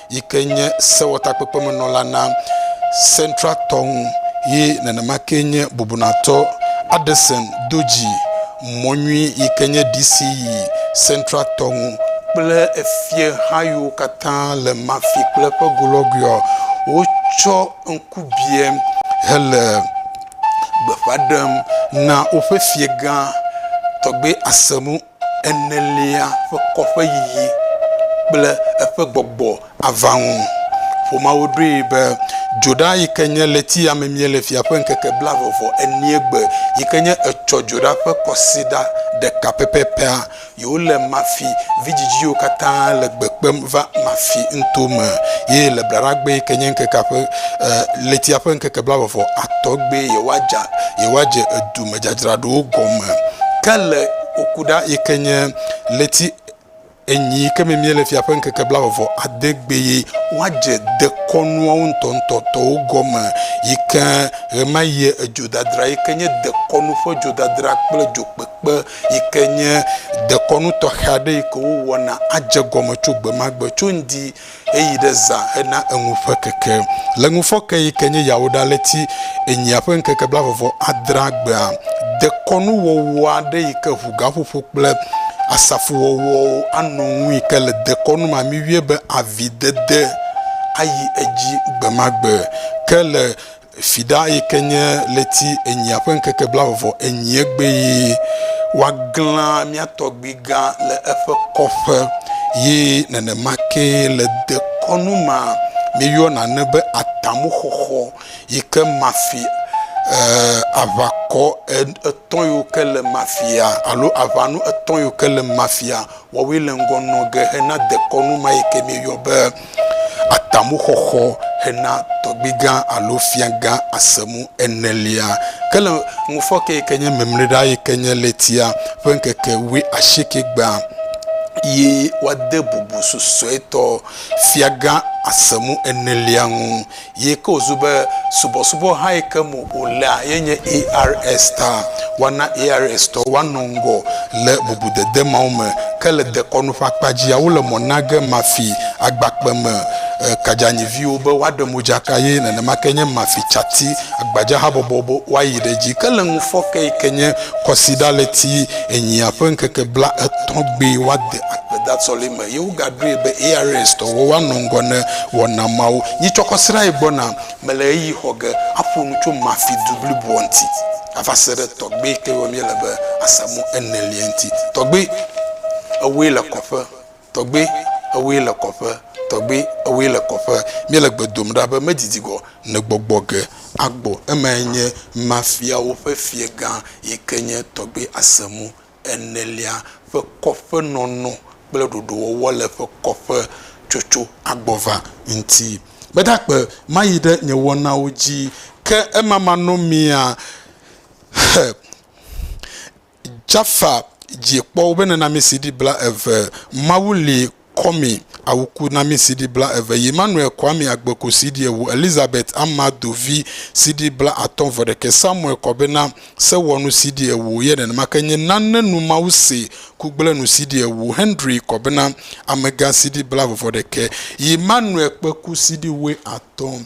yi ke nye sewɔtakpekpemenɔla na Central tɔ ŋu ye nenema kee nye bubunatɔ Addison Doji Mɔnyui yi ke nye DC yi Central tɔ ŋu kple efieha yiwo katã le Mafi kple eƒe golɔguiɔ, wotsɔ ŋkubiẽ hele gbeƒã ɖem na woƒe fiegã, Tɔgbɛ Asemu. enelia ƒe kɔ ƒe yiyi kple eƒe gbɔgbɔ ava ŋu. Ƒomeawo ɖoe be dzoɖa yi ke nye ɣletia memie le fia ƒe ŋkeke blaeve-vɔ-enie gbe, yi ke nye etsɔ dzoɖa ƒe kɔsiɖa ɖeka pɛpɛpɛa, yewole Mafi vidzidziwo katã le gbe kpem va Mafi nuto me, eye le Blaɖagbe yi ke nye ŋkekea ƒe, e, ɣletia ƒe ŋkeke blaeve-vɔ-atɔ̃ gbee yewoadza, yewoadze edu me. edzadzraɖowo gɔme ke le woku ɖa yi ke nye ɣleti enyi yi ke me míele fia ƒe ŋkeke blaeve ade gbee woadze dekɔnuawo ŋutɔŋutɔtɔwo gɔme yi ke ɣemaɣie edzodadra yi ke nye dekɔnu ƒe dzodadra kple dzokpekpe yi ke nye dekɔnu tɔxɛ aɖe yi ke wowɔna adze gɔme tso gbemagbe tso ŋdi Eyi ɖe zã hena eŋu ƒe keke. Le ŋufɔke yi ke nye Yawuɖaleti enyia ƒe ŋkeke blavɔvɔ adrea gbea, dekɔnuwɔwɔ aɖe yi ke ʋu gaƒoƒo kple asafuwɔwɔwo anɔ ŋu yi ke le dekɔnu mamiwie be avi dede ayi edzi gbemagbe. Ke le Fiɖa yi ke nye ɣleti enyia ƒe ŋkeke blaeve enyia gbee woaglã mía tɔgbuigã le eƒe kɔƒe ye nenema ke le dekɔnu ma míeyɔna ne be atamuxɔxɔ yi ke mafi e, aʋakɔ etɔ̃ yiwo ke le mafia alo aʋanu etɔ̃ yiwo ke le mafia Wɔwɔe le ŋgɔ nɔ ge hena dekɔnu ma yi ke míeyɔ be atamuxɔxɔ hena tɔgbigã alo fiagã asemu enelia. Ke le ŋufɔke yi ke nye mimliɖa yi ke nye ɣletia ƒe ŋkeke wuiasiekɛgbea, ye woade bubu susuetɔ fiagã asemu enelia ŋu yi ke wòzu be subɔsubɔ hã yi ke me wòlea ye nye ARS ta. Woana ARS-tɔwo woanɔ ŋgɔ le bubudede mawo me. Ke le dekɔnu ƒe akpa dzia, wole mɔ na ge mafi agbakpeme kadzanyiviwo be woaɖe modzaka ye nenema ke nye mafi tsati gbadzahabɔbɔwo be woayi ɖe edzi. Ke le ŋufɔke yi ke nye Kwasiɖaɣleti enyia ƒe ŋkeke blaetɔ̃ gbee woade akpedasɔleme. Eye wogaɖoe be ARS-tɔwo woanɔ ŋgɔ ne wɔna mawo. Nyitsɔkɔ srãe gbɔna. Mele ɣeyiɣi xɔ ge aƒo nu tso Mafi du bliboa ŋuti ava se ɖe tɔgbui ke yɔm míele be Asamu enelia ŋuti. Tɔgbui, ewòe le kɔƒe. Tɔgbui, ewòe le kɔƒe. Tɔgbui, ewòe le kɔƒe. Míele gbe dom ɖa be medidi gɔ ne gbɔgbɔ ge agbɔ. Emae nye Mafiawo ƒe fiegã yi ke nye Tɔgbui Asamu enelia ƒe kɔƒe nɔnɔ kple ɖoɖowɔwɔ le eƒe kɔƒe tsotso agbɔ va ŋuti. Meda akpe mayi ɖe nye wɔnawo dzi, ke ema manɔ mia he. Jaffa dzi kpɔ woƒe nunɔamesi ɖi bla eve. Mawu li Kwame Awuku na mí CD blaeve, Emmanuel Kwame Agbeku CD ewo, Elizabeth Amadu vi CD blaatɔ̃ vɔ ɖekɛ, Samuel Kɔbena Sewɔnu CD ewo, ye nenema ke nye Nane Nu Mawu Se Kugblẽnu CD ewo, Henry Kɔbena Amegã CD blaeve vɔ ɖekɛ, Emmanuel Kpeku CD wuiatɔ̃.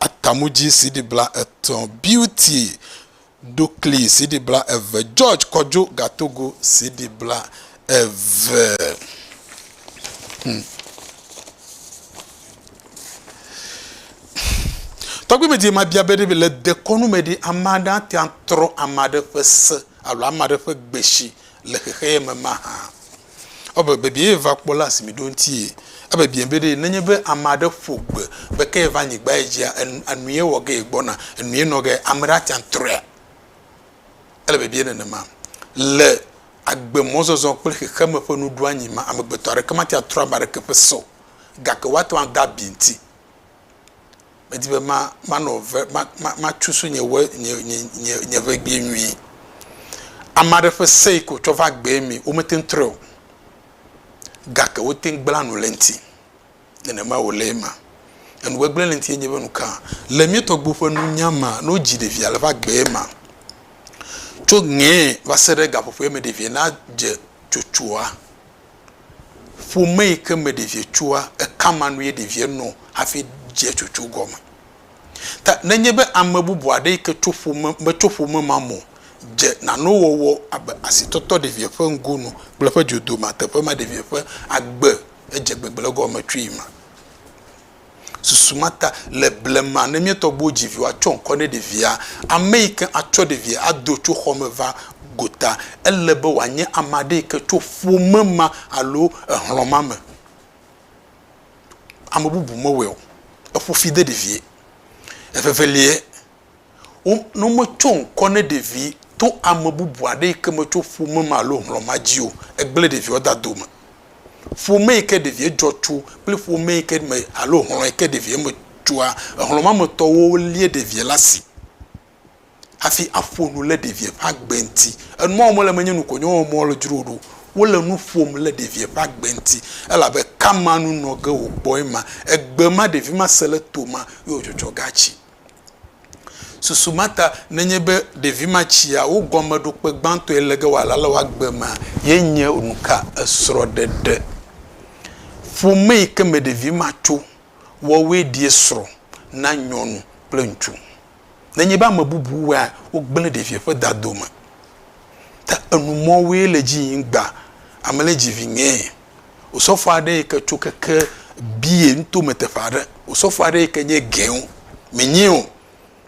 Atamudzi CD bla etɔ̃, Beauty Dokli CD bla eve, George Kɔdjo Gatogo CD bla eve. Hmm. Tɔgbi me di mabia be ɖe le dekɔnu me ɖi ame aɖe ate atrɔ ame aɖe ƒe se alo ame aɖe ƒe gbesi le xexeame ma hã. Ebe bibiae va kpɔ la si mi ɖo ŋti ye. Ebe bia be ɖe nenye be ame aɖe ƒo gbe be ke va nyigba ye dzia enu ye wɔ ge ye gbɔna enu ye nɔ ge ame ɖe ate atrɔea? Ele bibiae nenema. Le agbe mɔzɔzɔ kple xexeme ƒe nuɖoanyi me amegbetɔ aɖeke mate atrɔ ame aɖeke ƒe se o gake woate ŋu ada bi ŋti. Medi be manɔ ve, matsu so nye we, nye, nye, nye, nye ʋegbee nyuie. Ame aɖe ƒe se yi ke wòtsɔ va gbee mee, womete ŋu trɔe o. Gake wote ŋu gblẽa nu le eŋuti. Nenema wòle ema. Enugbegblẽ le eŋuti enye be nuka? Le mía tɔgbuiwo ƒe nunya mea, ne wodzi ɖevia le va gbee mea, tso ŋee va se ɖe gaƒoƒoea me ɖevia nadze tsotsoa, ƒome yi ke me ɖevia tsoa, eka ma nu ye ɖevia nɔ hafi dzea tsotso gɔme. Ta nenye be ame bubu aɖe yi ke tso ƒome, metso ƒome ma me o, dze nanewo wɔwɔ abe asitɔtɔ ɖevia ƒe ŋgonu kple eƒe dzodome teƒe ma, ɖevia ƒe agbe, edze gbegblẽ gɔme tsoe ma. Susu ma ta, le blema, ne mía tɔgbuiwo dzi viwo atsɔ ŋkɔ ne ɖevia, ame yi ke atsɔ ɖevia ado tso xɔ me va gota, ele be wòanye ame aɖe yi ke tso ƒome ma alo exlɔ̃ ma me. Ame bubu mewɔe o. Eƒo fi de ɖevia. Evevelia. wo ne wometso ŋkɔ ne ɖevi to ame bubu aɖe yi ke metso ƒome me alo hlɔ̃ ma dzi o, egblẽ ɖeviawo de dome. Ƒome yi ke ɖevia dzɔ tso kple ƒome yi ke me alo hlɔ̃ yi ke ɖevia me tsoa, hlɔ̃ ma me tɔwo lia ɖevia ɖe asi hafi aƒo nu ɖe ɖevia ƒe agbe ŋuti. Enu ma wɔm wole menye nu konye wɔm wole dzro ɖo. Wole nu ƒom ɖe ɖevia ƒe agbe ŋuti elabe kamanu nɔ ge wòkpɔe ma. Egbe ma ɖevi ma se ɖe to ma ye wòtsɔ tsɔ ge atsi. Susu ma ta nenye be ɖevi ma tsia wo gɔmeɖokpe gbãtɔe le ge wòala le woagbe mea, ye nye nu ka esrɔ̃ɖeɖe ƒome yi ke me ɖevi ma tso wɔwoe ɖie srɔ̃ na nyɔnu kple ŋutsu. Nenye be ame bubu wɔea, wogblẽ ɖevia ƒe dadome ta enu mɔwoe le edzi yim gbã, ame le dzi viŋee. Osɔfo aɖe yi ke tso keke Bié nuto me teƒe aɖe. Osɔfo aɖe yi ke nye Gɛun, menye o,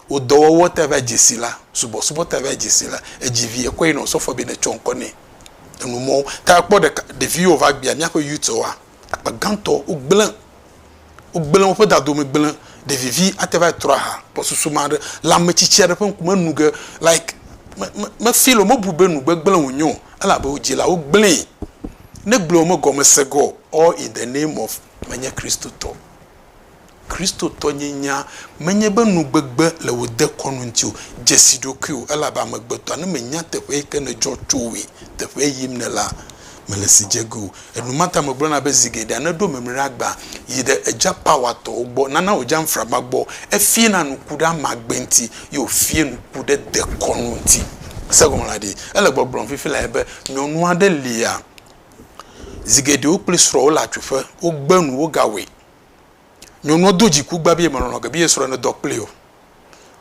wò dɔwɔwɔ te va dze si la, subɔsubɔ te va dze si la, edzi vi, ekɔe nɔ osɔfoa be netsɔ ŋkɔ nɛ. Enumɔwo. Ta ekpɔ ɖeka, ɖeviwo va gbea, míaƒe youths woa, akpa gãtɔ wogblẽ Wogblẽ woƒe dadome gblẽ. Ɖevivi ate va yi trɔ aha gbɔsusu me aɖe le ame tsitsi aɖe ƒe ŋkume enu ge like me, me, me feel o, mebu be nu gbegblẽ wònye o elabe wò dzilawo gblẽe. Negblɔe o, megɔme se ge o. All in the name of menye Kristotɔ. Kristotɔ nye nya menye be nu gbegbe le wò dekɔnu ŋuti o. Dzesi ɖokuiwò elabe amegbetɔa, ne mènya teƒe yi ke nèdzɔ tso oe, teƒe yim nèlea, mèle si dze ge o. Enumata megblɔna be zi geɖea ne eɖo mimlira gbã yi ɖe eJa Power tɔwo gbɔ nana wòdza ŋframa gbɔ, efiena nuku ɖe amagbe ŋuti ye wòfie nuku ɖe dekɔnu ŋuti. Èse gɔme la ɖe? Ele gbɔgblɔm fifi lae be nyɔnu aɖe lia, zi geɖe wo kple srɔ̃a wole atsuƒe, wogbe nu, wogawɔe. Nyɔnua do dziku gbã be yemelɔ̃ ge be ye srɔ̃a nedɔ kplii o.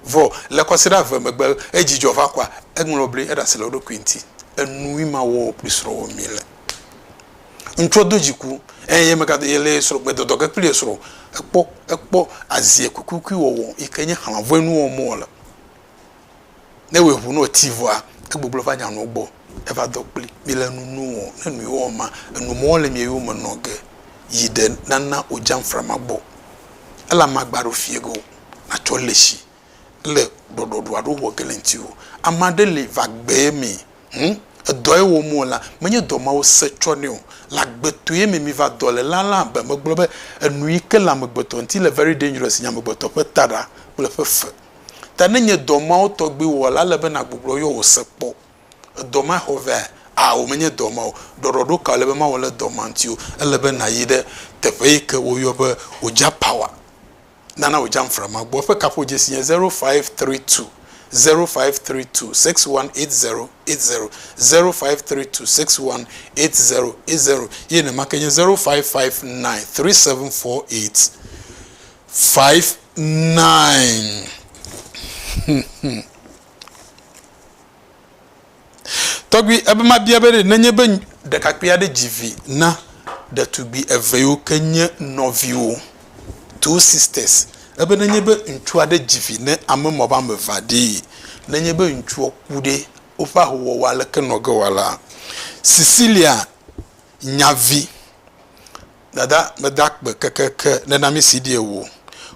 Vɔ, le kɔsiɖa eve megbe, edzi dzɔ va kɔa, eŋlɔ bli, eɖe asi le eɖokui ŋuti. Enui ma wɔwɔ kpli srɔ̃wò mi le. Ŋutsua do dziku eye ye megado, ye le srɔ̃ gbe dɔdɔ ge kpli ye srɔ̃ o. Ekpɔ, ekpɔ azie kuikuikui wɔwɔ yi ke nye xlãvɔe nuwɔwɔ me wòle. Ne ewɔe ŋu ne wòti vɔa, egbɔgblɔ va nya nɔwo gbɔ. Eva dɔ kpli. Mìle nu nu ɔ, ne nu yewo ɔ ma, enu mɔ le mìwo yome nɔ ge yi ɖe nana wòjam frama gbɔ. Ele amagba ɖewo fiɛ ge o. Natsɔ le shi le ɖɔɖɔɖu aɖe wowɔ ge le ŋti o. Ama ɖe li va gbe ye mɛ hun edɔ ye wɔm wòle la, menye dɔ ma wose tsɔ nɛ o. Le agbeto ye mɛ mìva dɔ le la la be megblɔ be enu yi ke le amegbetɔ ŋti le very dangerous nyi amegbetɔ ƒe taɖa kple eƒe fe. Ta ne nye dɔ mawo tɔgbi wɔ la, ele be nàgbugbɔ yɔ wò se kpɔ. Edɔ ma xɔ vea? Ao, menye dɔ ma o. Ɖɔɖɔɖo ka wòle be mawɔ le dɔ ma ŋuti o? Ele be nàyi ɖe teƒe yi ke woyɔ be Oja Power, Nana Oja Nframa gbɔ. Eƒe kaƒodzesi nye zero, five, three, two, zero, five, three, two, six, one, eight, zero, eight, zero, zero, five, three, two, six, one, eight, zero, eight, zero, ye nenema ke nye zero, five, five, nine, three, seven, four, eight. Five nine Tɔgbui ebe mabia be ɖe nenye be ɖekakpui aɖe dzi vi na ɖetugbui eve yiwo ke nye nɔviwo, two sisters, ebe nenye be ŋutsu aɖe dzi vi ne ame ma ƒe ame evea ɖee, nenye be ŋutsua ku ɖe, woƒe ahowɔwɔ aleke nɔ ge wɔ la? Cecilia nya vi. Dada meda kpe kekeake ɖe na mí si ɖie o.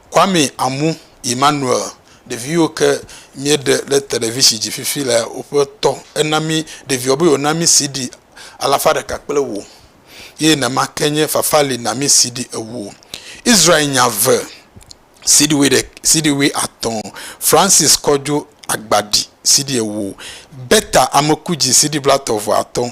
Kwame Amu Emmanuel, ɖeviwo ke míeɖe le televisi dzi fifi le woƒe tɔ ena mí ɖeviwo be yewo na mí CD alafa ɖeka kple ewo. Ye nenema ke nye Fafa li na mí CD ewo. Israel nya eve, CD wui ɖe, CD wui atɔ̃. Francis Kɔdjo Agbaɖi CD ewo. Bertha Amekudzi CD blatɔ̃ vɔ atɔ̃.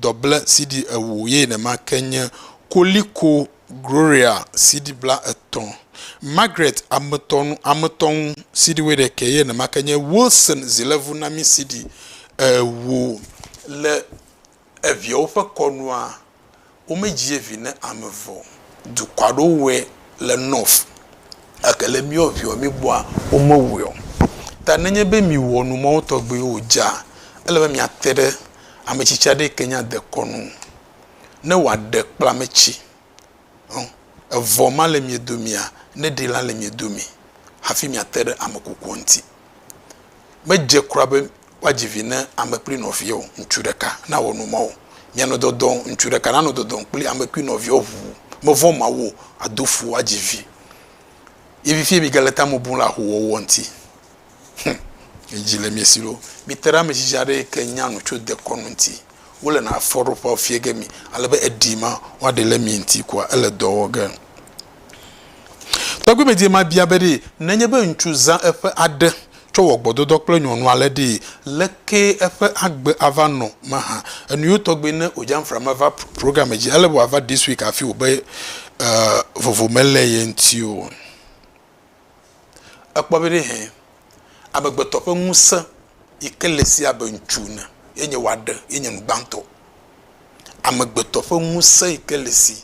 dɔble CD ewo ye nèma ke nye Koliko Groria CD bla etɔ̃, Margaret Ametɔnu Ametɔnu CD woɖekɛ ye nèma ke nye Wilson Zilevu Nami CD ewo. Le eviawo ƒe kɔnua, Womedzie vi ne ame vɔ. Dukɔa ɖo wɛ le nɔf gake le miɔ viɔ migbɔa womewɛɔ. Ta nenye be miwɔ nu mawo tɔgbiwo o dza, ele be miate ɖe ametsitsi aɖe yike nya dekɔ nu ne wòaɖe kple ametsi ɔ evɔ ma le miedomea neɖi la le miedomi hafi miate ɖe amekukua ŋuti. Medze kura be woadzi vi ne ame kple nɔvia o, ŋutsu ɖeka nawɔ nu ma o. Mia nɔ dɔdɔm, ŋutsu ɖeka nanɔ dɔdɔm kple ame kple nɔvia ŋu. Mevɔ̃ Mawu o, ado fu woadzi vi. Ye vivie miegale tame bum le ahowɔwɔ ŋuti. Hum! Midzi le mia si ɖo. Mite ɖe ame tsitsi aɖe yi ke nya nu tso dekɔnu ŋuti. Wole na afɔɖoƒea fia ge mi, ale be eɖi ma woaɖe le mia ŋuti koa, ele dɔ wɔ ge. Tɔgbuimedie ma bia be ɖe nenye be ŋutsu zã eƒe aɖe tsɔ wɔ gbɔdɔdɔ kple nyɔnua le ɖee, lekee eƒe agbe ava nɔ mahã. Enuyo tɔgbe ne ojanfra ma va programme dzi. Ele be wòava this week hafi wò be vovo mele ye ŋuti o. Ekpɔ be ɖe hẽ amegbetɔ ƒe ŋuse yike le esi abe ŋutsu ene ye nye wòaɖe ye nye nu gbãtɔ. Amegbetɔ ƒe ŋuse yike le esi.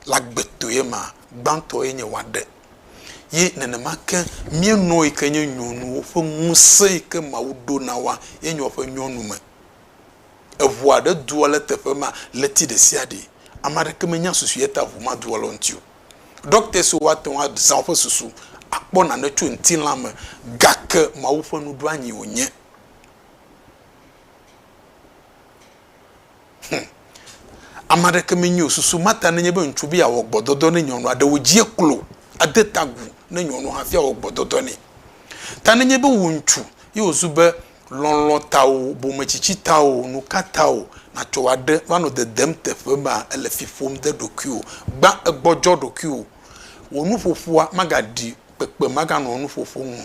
le agbetoe ma, gbãtɔ ye nye woaɖe. Ye nenema ke míenɔa yi ke nye nyɔnuwo ƒe ŋusẽ yi ke Mawu ɖo na woa ye nye woƒe nyɔnu me. Eŋu aɖe dua le teƒe ma ɣleti ɖesiaɖe. Ame aɖeke menya susu ye ta ŋu ma dua le wo ŋuti o. Ɖɔkita siwo woate ŋu azã woƒe susu akpɔ nane tso ŋutilã me gake Mawu ƒe nuɖoanyi wònye. Hum! Ame aɖeke menye o. Susu Marta nenye be ŋutsu be yeawɔ gbɔdɔdɔ ne nyɔnua, ɖe wòdzie klo ade ta agu ne nyɔnu hafi awɔ gbɔdɔdɔ nɛ. Ta nenye be wò ŋutsu ye wòzu be lɔlɔ̃ tawò, bometsitsi tawò, nuka tawò nàtsɔ wɔ aɖe va nɔ dedem teƒe mea, èle fi ƒom de ɖokuiwò. Gbã egbɔdzɔ ɖokuiwò. Wò nuƒoƒoa magaɖi kpekpe maganɔ nuƒoƒo ŋu o.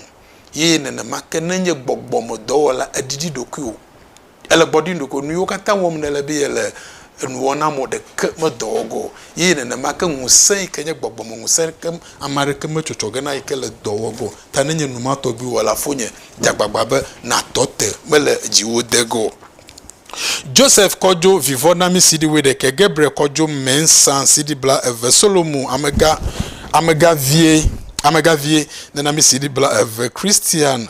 Ye nenema ke ne nye gbɔgbɔmedɔwɔla, èɖiɖi ɖokuiwò. Ele gbɔ ɖi ɖeko nuyiwo katã wɔm nèle be yele enuwɔna mɔ ɖeke me dɔ wɔ ge o. Eye nenema ke ŋusẽ yike nye gbɔgbɔme ŋusẽ ke ame aɖeke me tsɔtsɔ ge na yike le dɔ wɔ ge o. Ta nenye nu ma tɔgbi wɔla fonye, dze agbagba be nàtɔ te mele dziwò de ge o. Joseph kɔ dzo vivɔ na mi CD wuiɖekɛ, Gabriel kɔ dzo Mensa CD bla eve, Solomon amega, amega vie, amega vie nena mi CD bla eve, Christian,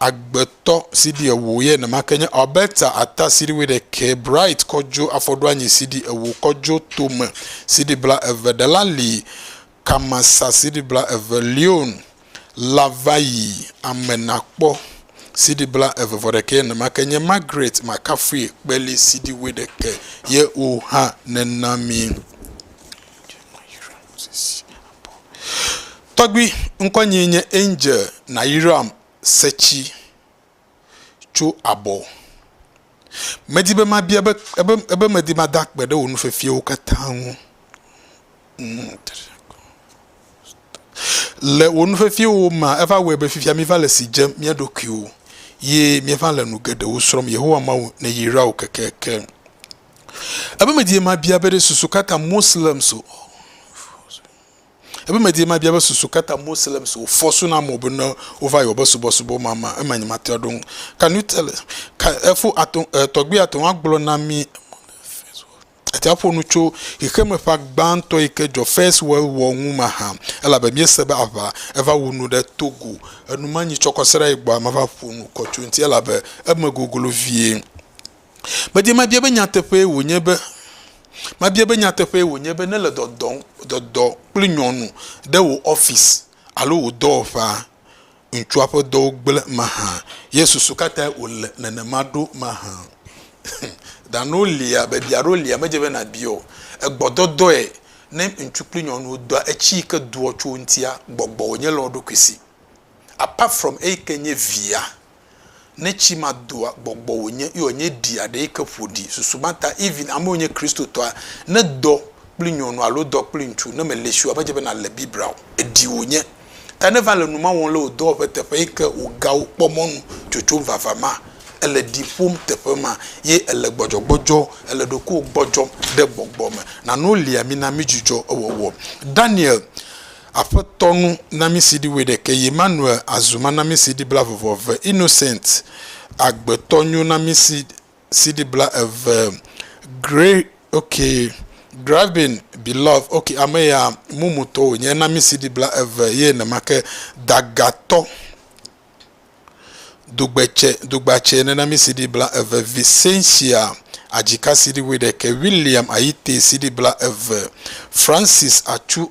Agbetɔ CD ewo yɛ nemake nye Alberta ata CD wuiɖekɛ, Bright kɔdjo afɔɖoanyi CD ewo, kɔdjo tome CD bla eve, Delali Kamasa CD bla eve, Leon Lavayi ame nakpɔ CD bla eve vɔ ɖekɛ yɛ nemake nye Margaret Makafui kpeli CD wuiɖekɛ yɛ wo hã nena mi. Tɔgbui ŋkɔ nyee nye Angel Nayiram Setsi tso Abɔ. Medi be mabia be ebe ebe medi mada akpe ɖe wò nufefiawo katã ŋu. Le wò nufefiawo mea, eva wɔe be fifia míva le si dzem mía ɖokuiwo ye míeva le nu geɖewo srɔ̃m. Yehowa Mawu neyra wò kekeake. Ebe medi be mabia be ɖe susu ka ta Moslems o. Ebe medie mabia be susu ka ta Moslems wo force na amewo be ne wova yewobe subɔsubɔ ma ma ema nye matea ɖo ŋu. Can you tell us ka efo ato tɔgbi ate ŋu agblɔ na mi ate ŋu aƒo nu tso xexeme ƒa gbãtɔ yi ke dzɔ first world war ŋu mahã elabe miese be aʋa eva wu nu ɖe Togo enu manyi tsɔkɔseɖa yi gbɔa mava ƒo nu kɔ tso ŋuti elabe eme goglo vie. Medi mabia be nyateƒee wònye be, mabia be nyateƒee wònye be nèle dɔdɔm, dɔdɔ kple nyɔnu ɖe wò ɔfisi alo wò dɔwɔƒea? Ŋutsua ƒe dɔwo gblẽ mahã ye susu katae wòle nenema ɖo mahã? Dano lia, biabia aɖewo lia medze be nàbia o. Egbɔdɔdɔe ne ŋutsu kple nyɔnuwo dɔa etsi yi ke doa tso wo ŋutia gbɔgbɔ wònye le wo ɖokui si. Apart from eyi ke nye via, Ne tsi ma doa gbɔgbɔ wònye ye wònye ɖi aɖe yi ke ƒo ɖi. Susu ma ta Irvin ame wònye Kristotɔa, ne dɔ kpli nyɔnu alo dɔ kpli ŋutsu ne mele si wòa medze be nale Biblia o. Eɖi wònye. Ta ne va le nu ma wɔm le wò dɔwɔƒe teƒe yi ke wò gawo kpɔ mɔnu tsotsom vava ma, ele ɖi ƒom teƒe ma ye ele gbɔdzɔgbɔdzɔ, ele ɖokuiwò gbɔdzɔm ɖe gbɔgbɔ me. Nano lia mi na mi dzudzɔ ewɔwɔ. Daniel Aƒetɔ nu namisiɖi wuiɖekɛ yi Manuel azu manamisiɖi bla vɔvɔ ve Innocent agbetɔ nyo namisiɖi bla eve Gray ok Gravin Beloved ok ame ya mumu tɔ wònye namisiɖi bla eve ye nemake Dagatɔ dugbetse dugbatse nenamisiɖi bla eve Vicencia adzikasiɖi wuiɖekɛ William ayitesiɖi bla eve Francis atsu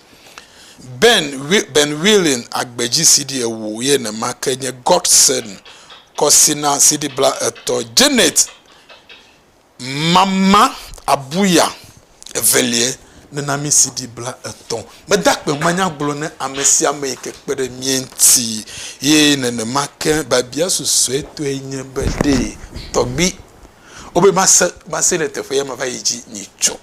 Ben Ben Wheeling agbe dzi CD ewo ye ne ma ke nye Godson Kɔsina CD bla etɔ Janet Mama Abuya evelie ne na mi CD bla etɔ me da kpe ma nya gblɔ ne ame sia ame yi ke kpe ɖe mie ŋti ye ne ne ma ke babia susue tɔe nye be ɖee tɔgbi wo be ma se ma se le teƒe ya ma va yi dzi nyi tso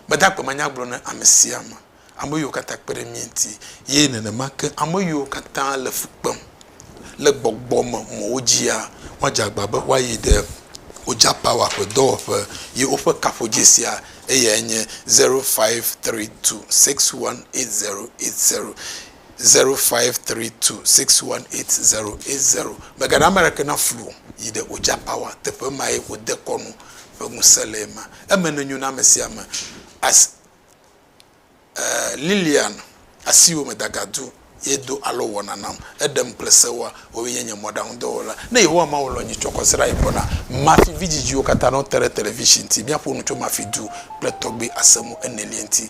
Mede akpemanya gblɔ na ame sia ame, ame yiwo katã kpe ɖe mía ŋuti, eye nenema ke ame yiwo katã le fu kpem le gbɔgbɔ me mɔwo dzia, woadze agbagba be woayi ɖe Oja Power ƒe dɔwɔƒe. Ye woƒe kaƒodzesia eyae nye, zero five tri tu six wan eit zero eit zero. 0532618080. Megaɖe ame aɖeke na flu o, yi ɖe Oja Power teƒe mae wodekɔnu ƒe ŋusẽ le ema. Eme nenyo na ame sia ame. As e Lilian asiwo me dagadu ye do alɔ wɔna nam. Eɖem kple sewoa, woawoe nye nye mɔɖaŋudɔwɔla. Ne Yehowa Mawu lɔ̃ nye tsɔ kɔ srãe gbɔ na Mafi vidzidziwo katã ne wote ɖe television ŋuti. Míaƒo nu tso Mafi du kple tɔgbe asemu enelia ŋuti.